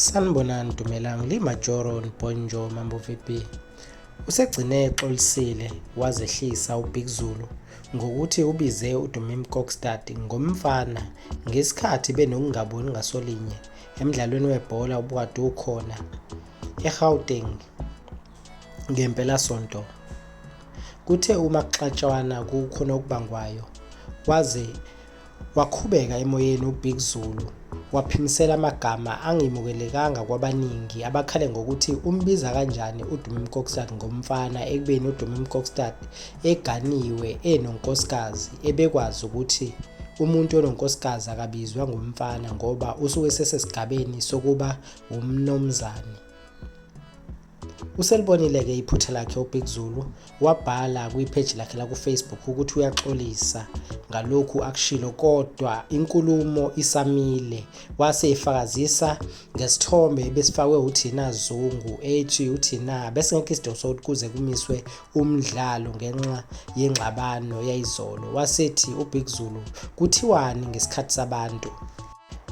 Sanibonani Dumelang li Majoro Nponjo Mambo VP usegcine exolisile wazehlisa uBig Zulu ngokuthi ubize uDumim Kokstad ngomfana ngesikhathi benokungaboni ngasolinye emdlalweni webhola obukade ukhona eGauteng ngempelasonto. Kuthe uma kuxatshwana kukhona okubangwayo waze Waqhubeka emoyeni uBig Zulu waphimisela amagama angemukelekanga kwabaningi abakhale ngokuthi umbiza kanjani uDumi Mkokstad ngomfana ekubeni uDumi Mkokstad eganiwe enonkosikazi ebekwazi ukuthi umuntu ononkosikazi akabizwa ngomfana ngoba usuke sesesigabeni sokuba wumnomzane. Uselibonile-ke iphutha lakhe uBig Zulu wabhala kwipheji lakhe lakuFacebook ukuthi uyaxolisa ngalokhu akushilo kodwa inkulumo isamile wase efakazisa ngesithombe ebesifakwe uThina Zungu ethi uThina besingekho isidingo sokuthi kuze kumiswe umdlalo ngenxa yengxabano yayizolo wasethi uBig Zulu kuthiwani ngesikhathi sabantu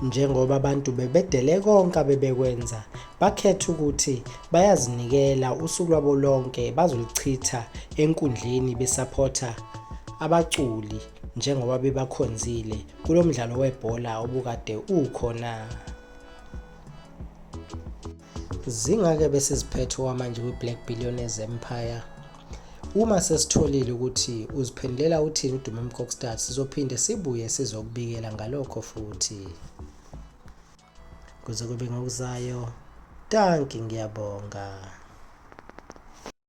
Njengoba abantu bebedele konke abebekwenza, bakhetha ukuthi bayazinikela usuku lwabo lonke bazolichitha enkundleni besaphotha abaculi njengoba bebakhonzile kulo mdlalo webhola obukade ukhona. Zingake bese ziphethe owamanje kwi-Black Billionaires Empire. Uma sesitholile ukuthi uziphendulela uthini uDuma Mkokstad, sizophinde sibuye sizokubikela ngalokho futhi. Kuze kube ngokuzayo, danki ngiyabonga.